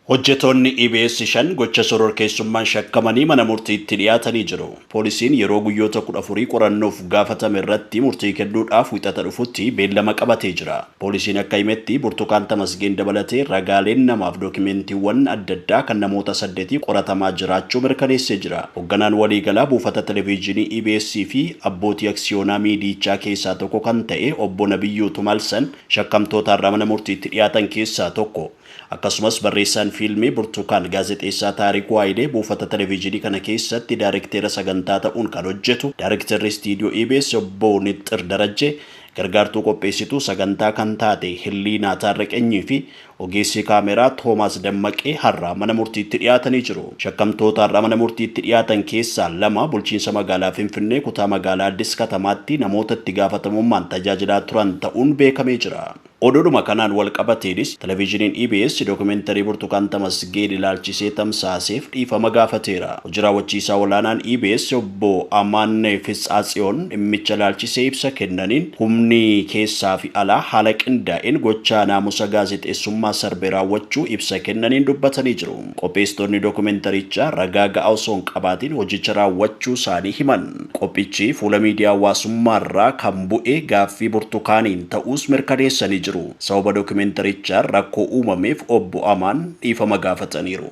Hojjetoonni EBS shan gocha shororkeessummaan shakkamanii mana murtiitti dhiyaatanii jiru. Poolisiin yeroo guyyoota kudha afurii qorannoof gaafatame irratti murtii kennuudhaaf Wixata dhufutti beellama qabatee jira. Poolisiin akka himetti Burtukaan Tamasgeen dabalatee ragaaleen namaaf dookimeentiiwwan adda addaa kan namoota saddetii qoratamaa jiraachuu mirkaneessee jira. Hogganaan waliigalaa buufata televiijiinii EBS fi abbootii aksiyoonaa miidiyiichaa keessaa tokko kan ta'e Obbo Nabiyyuu Tumalsan shakkamtootaarraa mana murtiitti dhiyaatan keessaa tokko. Akkasumas barreessaan fiilmii Burtukaan Gaazexeessaa Taarikuu Hayilee buufata televiizyinii kana keessatti daarekteera sagantaa ta'uun kan hojjetu, daarekteerri istiidiyoo EBS obbo Nixxir Darajjee, gargaartuu qopheessituu sagantaa kan taate Hilliinaa Taarreqanyii fi ogeessi kaameeraa Toomaas Dammaqee har'a mana murtiitti dhiyaatanii jiru. Shakkamtoota har'a mana murtiitti dhiyaatan keessaa lama bulchiinsa magaalaa Finfinnee kutaa magaalaa Addis Katamaatti namoota itti gaafatamummaan tajaajilaa turan ta'uun beekamee jira. Oduudhuma kanaan walqabateenis Televiizhiniin EBS dookumentarii Burtukaan Tamasgeen ilaalchisee tamsaaseef dhiifama gaafateera. Hoji Raawwachiisaa Olaanaan EBS Obbo Amaan Fitsaatsiyoon dhimmicha ilaalchisee ibsa kennaniin, humni keessaafi alaa haala qindaa'een gochaa naamusa gaazexeessummaa sarbe raawwachuu ibsa kennaniin dubbatanii jiru. Qopheessitoonni dokumentarichaa ragaa ga'aa osoo hin qabaatiin hojicha raawwachuusaanii himan. Qophichi fuula miidiyaa hawaasummaarraa kan bu'e gaaffii Burtukaaniin ta'uus mirkaneessanii jiru. Sababa dokumentarichaan rakkoo uumameef Obbo Amaan dhiifama gaafataniiru.